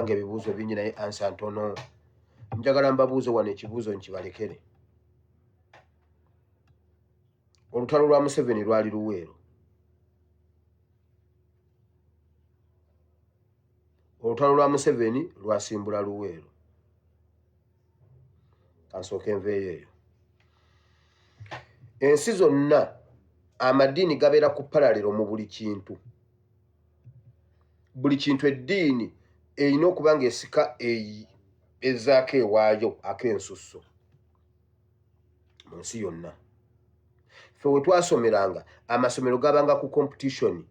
banange ebibuuzo bingi naye ansa ntono njagala mbabuuze wano ekibuuzo nkibalekere olutalo lwa museveni lwali luweero olutalo lwa museveni lwasimbula luweero kansooka enveeyo eyo ensi zonna amadiini gabeera ku palalero mu buli kintu buli kintu eddiini erina okuba ng'esika ezaako ewaayo ak'ensusso mu nsi yonna fe we twasomeranga amasomero gabanga ku kompetitioni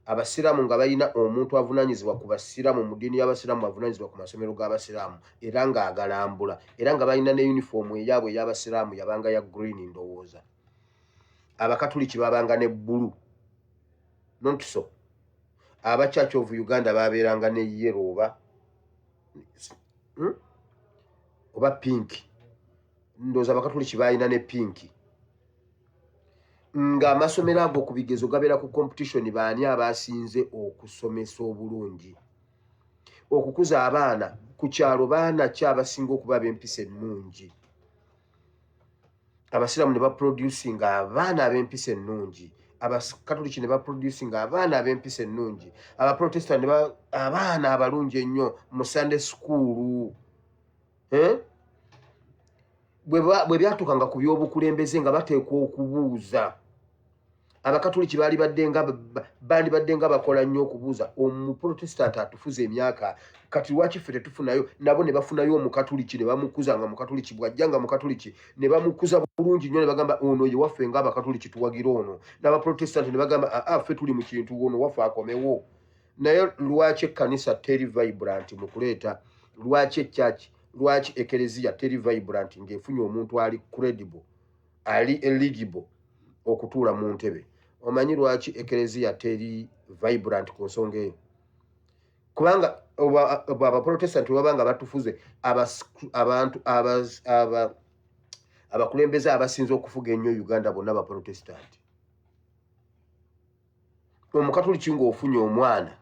abasiraamu nga balina omuntu avunanyizibwa ku basiraamu mu ddiini y'abasiraamu avunanyizibwa ku masomero g'abasiraamu era ng'agalambula era nga balina ne yunifoomu eyaabwe ey'abasiraamu yabanga ya green ndowooza ya abakatuliki babanga ne bbulu nontiso aba church of uganda babeeranga ne yero oba hmm? oba pinki ndooza abakatuliki balina ne pinki ng'amasomero ago ku bigezo gabeera ku competition baani abasinze okusomesa obulungi okukuza abaana ku kyalo baana ki abasinga okuba ab'empisa ennungi abasiraamu ne baproducing abaana ab'empisa ennungi abakatoliki ne baproducing abaana ab'empisa ennungi abaprotestant ne abaana abalungi ennyo mu sunday sukuulu eh? bwe byatuukanga ku by'obukulembeze nga bateekwa okubuuza abakatuliki balibadde nga bandibadde nga bakola nnyo okubuuza omuprotestanti atufuza emyaka kati lwaki ffe tetufunayo nabo ne bafunayo omukatuliki ne bamukuza nga mukatuliki bwajja nga mukatuliki ne bamukuza bulungi nnyo ne bagamba ono ye waffe nga abakatuliki tuwagira ono n'abaprotestanti ne bagamba aa ah, ah, ffe tuli mu kintu ono waffe akomewo naye lwaki ekkanisa teri vibrant mu kuleeta lwaki ekyaki lwaki ekereziya teri vibrant ng'efunye omuntu ali credible ali eligible okutuula mu ntebe omanyi lwaki ekereziya teri vibrant ku nsonga eyo kubanga abaprotestanti baba nga batufuze abantu abakulembeze abasinza okufuga ennyo uganda bonna abaprotestanti omukatuliki ng'ofunye omwana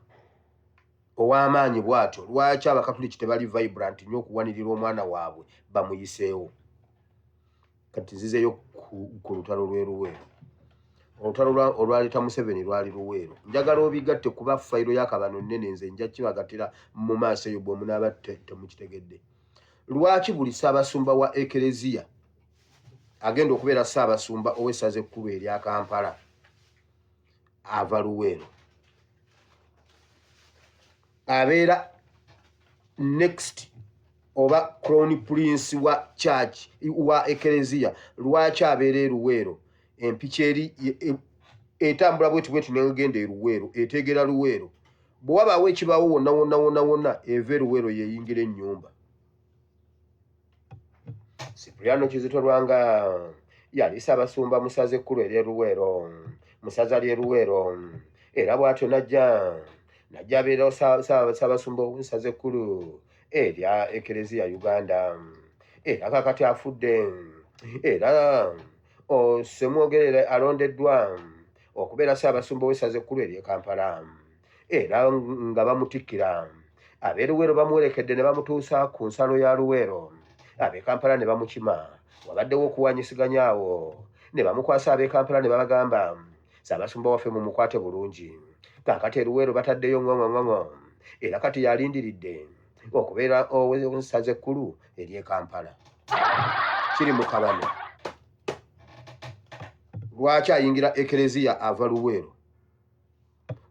ow'amaanyi bw'atyo lwaki abakatuliki tebali vibrant nnyo okuwanirira omwana waabwe bamuyiseewo kati nzizeyo ku lutalo lweruweero olutalo olwaleeta museveni lwali luweero njagala obigatte kuba fayiro yakabano nnene nze nja kibagatira mu maaso eyo bwemunaaba temukitegedde lwaki buli ssaabasumba wa ekereziya agenda okubeera ssaabasumba ow'essaza ekkulu erya kampala ava luweero abeera next oba crown prince wa church wa ekereziya lwaki abeera eruweero empiki eri e, e, etambula bweti bweti negenda eruweero eteegera luweero bwe wabaawo ekibaawo wonna wonna wonna wonna eva eruweero yeyingira ennyumba Cipriano Kizito Lwanga yali Ssaabasumba mu ssaza ekkulu ery'e Luweero mu ssaza ly'e Luweero era bw'atyo n'ajja n'ajja abeerawo Ssaabasumba ow'essaza ekkulu erya Ekereziya Uganda era kakati afudde era Ssemwogerere alondeddwa okubeera Ssaabasumba ow'essaza ekkulu ery'e Kampala. era nga bamutikkira ab'e luweero bamuwerekedde ne bamutuusa ku nsalo ya luweero ab'e kampala ne bamukima wabaddewo okuwanyisiganya awo ne bamukwasa ab'e kampala ne babagamba saabasumba waffe mu mukwate bulungi kaakati eruweero bataddeyo ŋoŋoŋoŋo era kati yalindiridde okubeera owensaza ekkulu ery'e kampala kiri mu kabano lwaki ayingira ekereziya ava luweero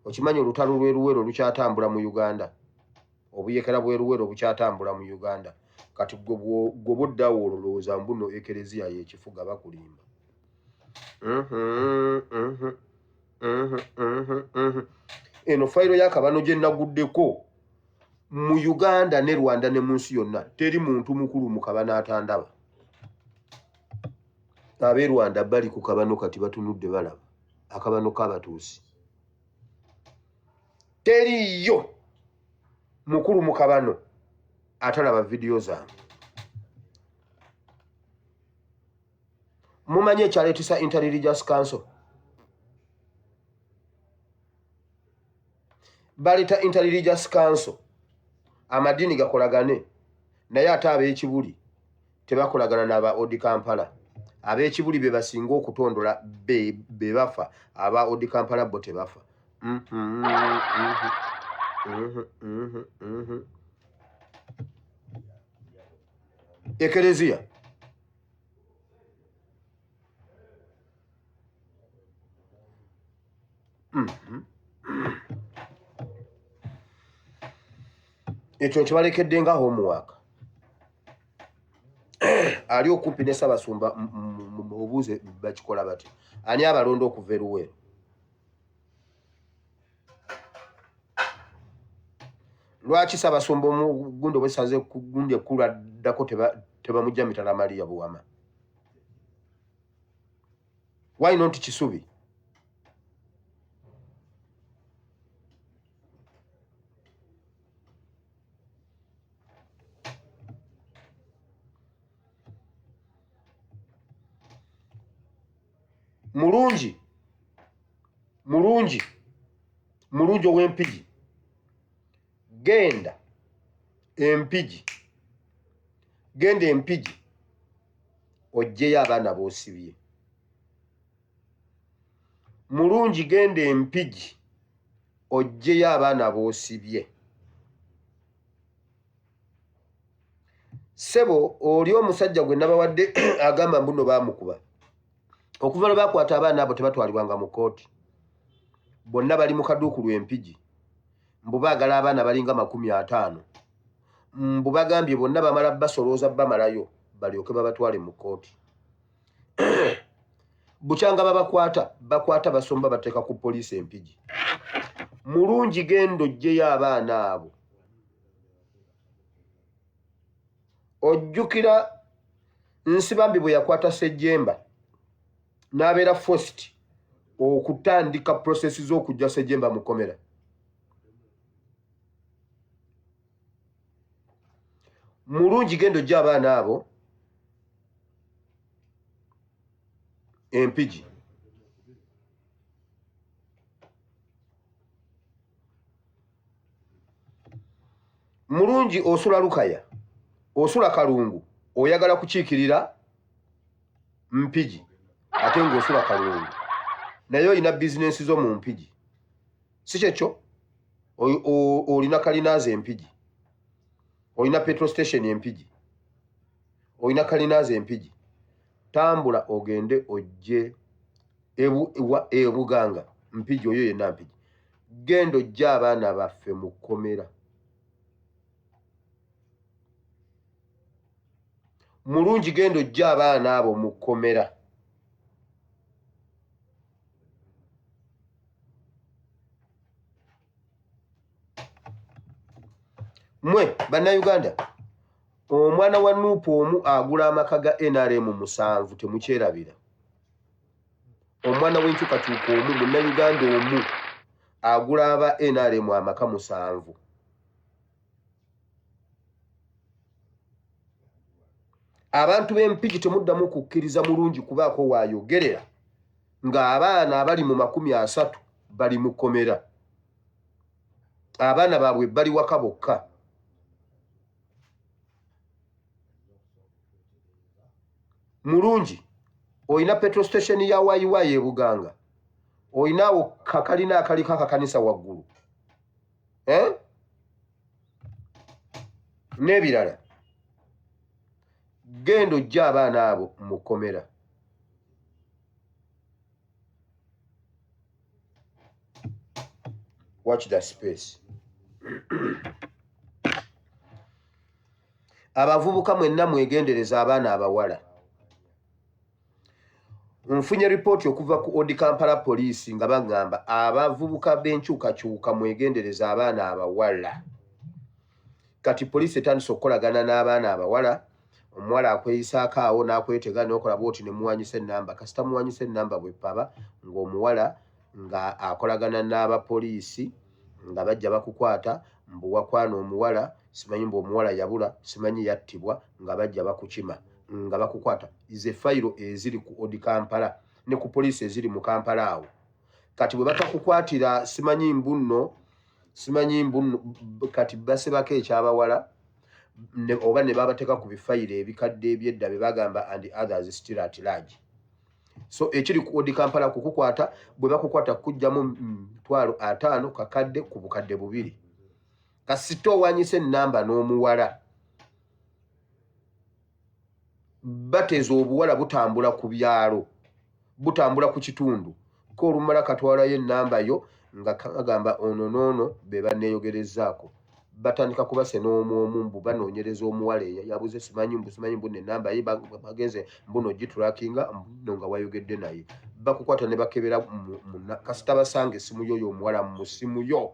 okimanyi olutalo lweruwero lukyatambula mu uganda obuyekera bweruwero bukyatambula mu uganda kati gwoba oddawo ololowooza mbuno ekereziya yekifuga bakulimba eno fayiro yakabano gyenaguddeko mu uganda ne rwanda ne munsi yonna teri muntu mukulu mukabano atandaba abe rwanda bali ku kabano kati batunudde balaba akabano kabatuusi teriyo mukulu mu kabano atalaba vidiyo zange mumanyi ekyaletisa interreligious council baleta interreligious council amadiini gakolagane naye ate ab'ekibuli tebakolagana na ba Odi Kampala abekibuli be basinga okutondola be be bafa aba Odi Kampala bo tebafa mm -hmm, mm -hmm, mm -hmm, mm -hmm. Ekelezia Mhm. ekyo nkibalekedde nga homework ali okumpi ne sabasumba obuuze bakikola bati ani abalonda okuva eruweero lwaki sabasumba omugundi obwesaze kugundi ekkulu addako tebamujja mitala maliya buwama why not kisubi mulungi mulungi mulungi ow'empigi genda empigi genda empigi ojjeyo abaana bosibye mulungi genda empigi ojjeyo abaana bosibye sebo oli omusajja gwe nabawadde agamba mbuno bamukuba okuva lwe bakwata abaana abo tebatwalibwanga mu kooti bonna bali mu kaduuku lwempigi mbu baagala abaana balinga makumi ataano mbu bagambye bonna bamala basolooza bamalayo balyoke babatwale mu kkooti bukyanga babakwata bakwata basomba bateeka ku poliisi empigi mulungi genda ojjeyo abaana abo ojjukira nsibambi bwe yakwata sejemba n'abeera fost okutandika prosesi z'okujja sejemba mukomera mulungi genda ojja abaana abo empigi mulungi osula lukaya osula kalungu oyagala kukiikirira mpigi ate ngaosula kalungu naye olina bizinensi zo mu mpigi si kyekyo olina kalinaazi empigi olina petro station empigi olina kalinaazi empigi tambula ogende ojje ebuganga e, e mpigi oyo yenna mpigi genda ojja abaana baffe mu kkomera mulungi genda ojja abaana abo mu kkomera mwe bannayuganda omwana wa nuupu omu agula amaka ga nrm musanvu temukyerabira omwana w'enkyukakyuka omu munnayuganda omu agula aba nrm amaka musanvu abantu b'empiki temuddamu kukkiriza mulungi kubaako waayogerera ng'abaana abali mu makumi asatu bali mu kkomera abaana baabwe bali waka bokka mulungi olina petro station ya wayiwayi ebuganga olinawo kakalina akaliko akakanisa waggulu eh? n'ebirala genda ojja abaana abo mu kkomera watch the space abavubuka mwenna mwegendereza abaana abawala Nfunye ripooti okuva ku Odi Kampala poliisi nga bagamba abavubuka b'enkyukakyuka mwegendereza abaana abawala. Kati poliisi etandise okukolagana n'abaana abawala, omuwala akweyisaako awo n'akwetega n'okola bwoti ne muwanyisa ennamba. Kasita muwanyisa ennamba bwe paba ng'omuwala nga akolagana n'abapoliisi nga bajja bakukwata mbu wakwana omuwala simanyi mbu omuwala yabula simanyi yattibwa nga bajja bakukima. nga bakukwata ize fayiro eziri ku odi kampala ne ku poliisi eziri mu kampala awo kati bwe batakukwatira simanyi mbunno simanyi mbunno kati basebako ekyabawala oba ne babateeka ku bifayiro ebikadde ebyedda bye bagamba and others still at large so ekiri ku odi kampala kukukwata bwe bakukwata kujjamu mitwalo ataano kakadde ku bukadde bubiri kasita owanyisa enamba n'omuwala bateza obuwala butambula ku byalo butambula ku kitundu ko olumala katwalayo enamba yo nga kagamba ono noono be baneeyogerezaako batandika kuba se n'omu omu mbu banoonyereza omuwala eyo yabuze simanyi mbu simanyi mbu nenamba ye bagenze mbuno gitulakinga mbuno nga wayogedde naye bakukwata ne bakebera kasita basanga essimu yo yo omuwala mu ssimu yo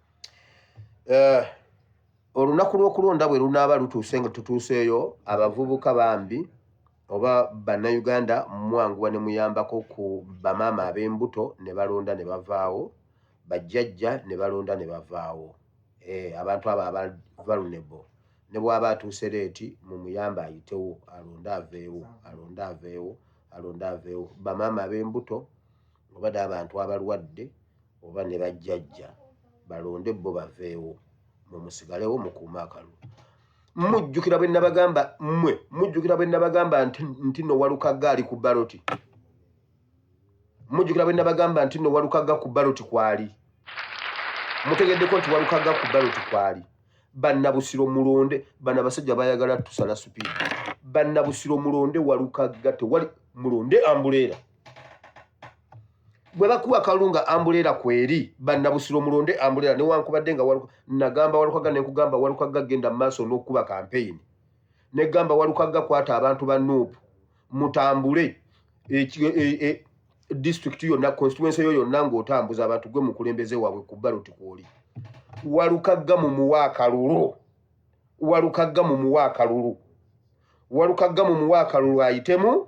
eh, olunaku lw'okulonda bwe lunaaba lutuuse nga tutuuseeyo abavubuka bambi oba bannayuganda mwanguwa ne muyambako ku bamaama ab'embuto ne balonda ne bavaawo bajjajja ne balonda ne bavaawo eh, abantu abo aba vulnerable ne bw'aba atuuse leeti mu muyamba ayitewo alonde aveewo alonde aveewo alonde aveewo bamaama ab'embuto obade abantu abalwadde oba ne bajjajja balonde bo baveewo mwe musigalewo mukuume akalulu mujjukira bwe nabagamba mmwe mujjukira bwe nabagamba nti no walukagga ali ku baloti mujjukira bwe nabagamba nti no walukagga ku baloti kwali mutegeddeko nti walukagga ku baloti kwali bannabusiro mulonde bana basajja bayagala tusala supiidi bannabusiro mulonde walukagga tewali mulonde ambuleera bwe bakuwa akalulu nga ambuleera kweri bannabusiro mulonde ambuleera newankubadde nga nagamba walukagga nenkugamba walukagga genda mu maaso n'okukuba kampeyini negamba walukagga kwata abantu ba nup mutambule e, e, e, disitulikiti yonna konstituensi yo yonna ng'otambuza abantu gwe mukulembeze waabwe ku baloti kwoli walukagga mu muwa akalulu walukagga mu muwa akalulu walukagga mu muwa akalulu ayitemu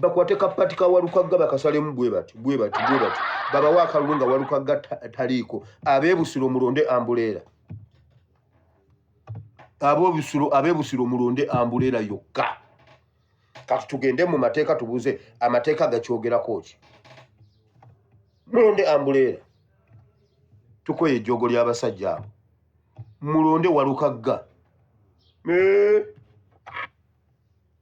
bakwate kapati ka walukagga bakasalemu bwe bati bwe bati bwe bati babawa akalulu nga walukagga taliiko abeebusiro mulonde ambuleera abobusiro abeebusiro mulonde ambuleera yokka kati tugende mu mateeka tubuze amateeka gakyogerako ki mulonde ambuleera tukoye ejjoogo ly'abasajja abo mulonde walukagga eh.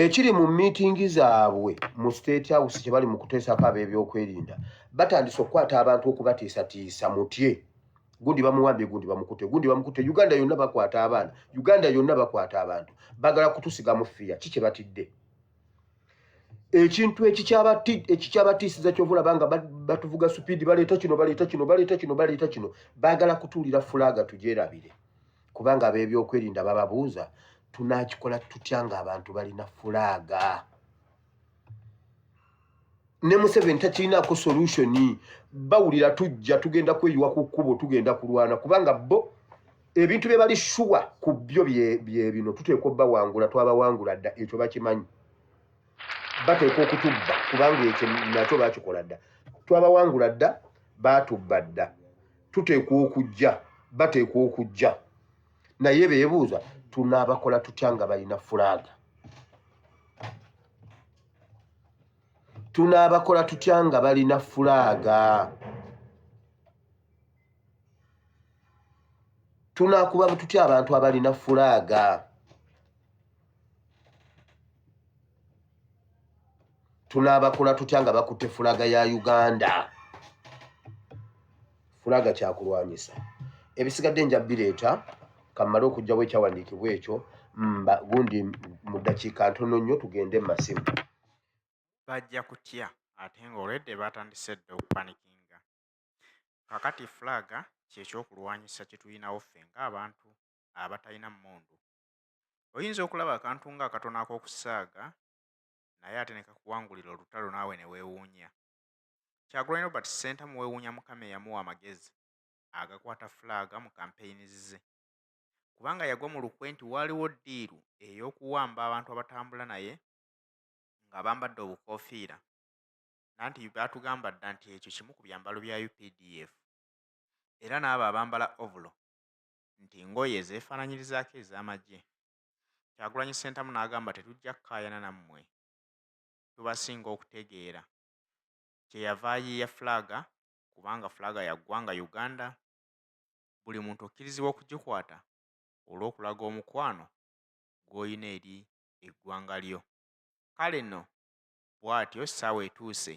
ekiri mu miitingi zaabwe mu state house kye bali mu kuteesako ab'ebyokwerinda batandise okukwata abantu okubatiisatiisa mutye gundi bamuwambye gundi bamukute gundi bamukute uganda yonna bakwata abaana uganda yonna bakwata abantu bagala kutusiga mu fiya ki kye batidde ekintu ekikyabatiisiza kyova olaba nga batuvuga supiidi baleeta kino baleeta kino baleeta kino baleeta kino baagala kutuulira fulaaga tugyerabire kubanga ab'ebyokwerinda bababuuza tunakikola tutya nga abantu balina fulaaga ne museveni takirinako solutioni bawulira tujja tugenda kweyiwa ku kkubo tugenda kulwana kubanga bo ebintu bye bali shuwa ku byo bye bino tuteekwa obbawangula twabawangula dda ekyo bakimanyi bateekwa okutubba kubanga ekyo nakyo bakikola dda twabawangula dda baatubba dda tuteekwa okujja bateekwa okujja naye beebuuza tunaabakola tutya nga balina fulaaga tunaabakola tutya nga balina fulaaga tunaakuba tutya abantu abalina fulaaga tunaabakola tutya nga bakutte fulaga ya uganda fulaga kyakulwanyisa ebisigadde nja bireeta kammale okugjawo ekyawandiikibwa ekyo mba gundi mu ddakiika ntono nnyo tugende mu masimu bajja kutya ate nga olwedde batandise dda okupanikinga kakati fulaga kyekyokulwanyisa kyetulinawo ffe ngaabantu abatalina mundu oyinza okulaba akantu nga akatono ak'okusaaga naye ate nekakuwangulira olutalo naawe newewuunya. Kyagulanyi Robert Ssentamu wewuunya Mukama eyamuwa amagezi agakwata fulaaga mu kampeyini zze kubanga yagwa mu lukwe nti waaliwo ddiiru ey'okuwamba abantu abatambula naye nga bambadde obukoofiira nanti baatugamba dda nti ekyo kimu ku byambalo bya updf era n'abo abambala ovulo nti ngoye ezeefaananyirizaako ez'amagye. Kyagulanyi Ssentamu n'agamba tetujja kukaayana nammwe tubasinga okutegeera. Kye yava ayiiya Fulaaga kubanga Fulaaga ya ggwanga Uganda, buli muntu okkirizibwa okugikwata olw'okulaga omukwano gw'olina eri eggwanga lyo. Kale nno bwatyo ssaawa etuuse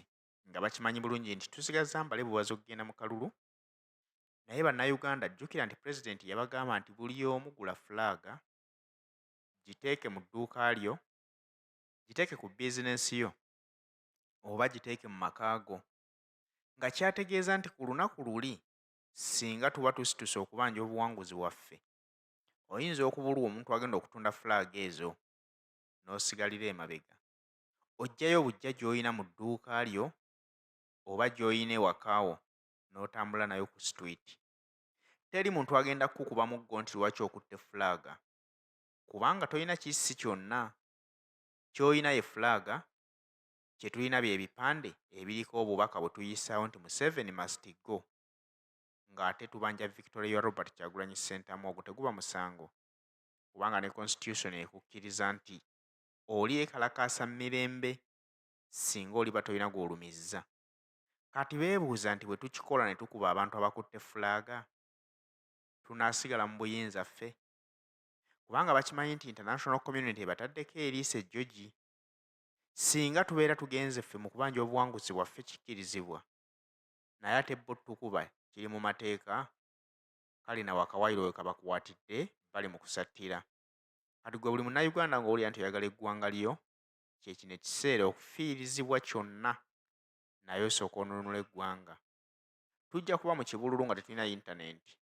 nga bakimanyi bulungi nti tusigazza mbale bubazi okugenda mu kalulu naye bannayuganda jjukira nti pulezidenti yabagamba nti buli omu gula fulaaga giteeke mu dduuka lyo giteeke ku bizinensi yo oba giteeke mu maka go nga kyategeeza nti ku lunaku luli singa tuba tusituse okubanja obuwanguzi waffe oyinza okubulwa omuntu agenda okutunda fulaaga ezo n'osigalira emabega ojjayo bujja gy'olina mu dduuka lyo oba gy'olina ewakaawo n'otambula nayo ku situwiti teri muntu agenda kukukuba muggo nti lwaki okutte fulaaga kubanga tolina kissi kyonna ky'olina ye fulaaga kye tulina bye bipande ebiriko obubaka bwe tuyisaawo nti museveni mastigo ng'ate tubanja victoria ya robert kyagulanyi ssentamu ogwo teguba musango kubanga ne constitution ekukkiriza nti oli ekalakaasa mirembe singa oliba tolina gw'olumizza Kati beebuuza nti bwe tukikola ne tukuba abantu abakutte fulaaga, tunaasigala mu buyinza ffe? Kubanga bakimanyi nti international community ebataddeko eriiso ejjogi. Singa tubeera tugenze ffe mu kubanja obuwanguzi bwaffe kikkirizibwa, naye ate bo tukuba kiri mu mateeka, kale nawe akawayiro we kabakwatidde bali mu kusattira. Kati gwe buli Munnayuganda ng'owulira nti oyagala eggwanga lyo, kye kino ekiseera okufiirizibwa kyonna naye osooka onunula eggwanga tujja kuba mu kibululu nga tetulina yintanenti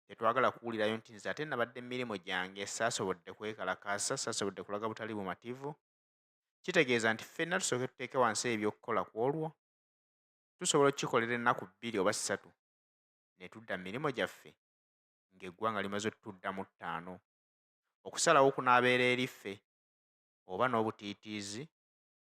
tetwagala kuwulirayo nti nze ate nabadde mumirimu gyange saasobodde kwekalakaasa saasobodde kulaga butali bumativu kitegeeza nti ffenna tusooke tuteeke wansi ebyokukola ku olwo tusobola okukikolera ennaku bbiri oba ssatu ne tudda mu mirimu gyaffe ng'eggwanga limaze otutudda mu ttaano okusalawo kunaabeera eriffe oba n'obutiitiizi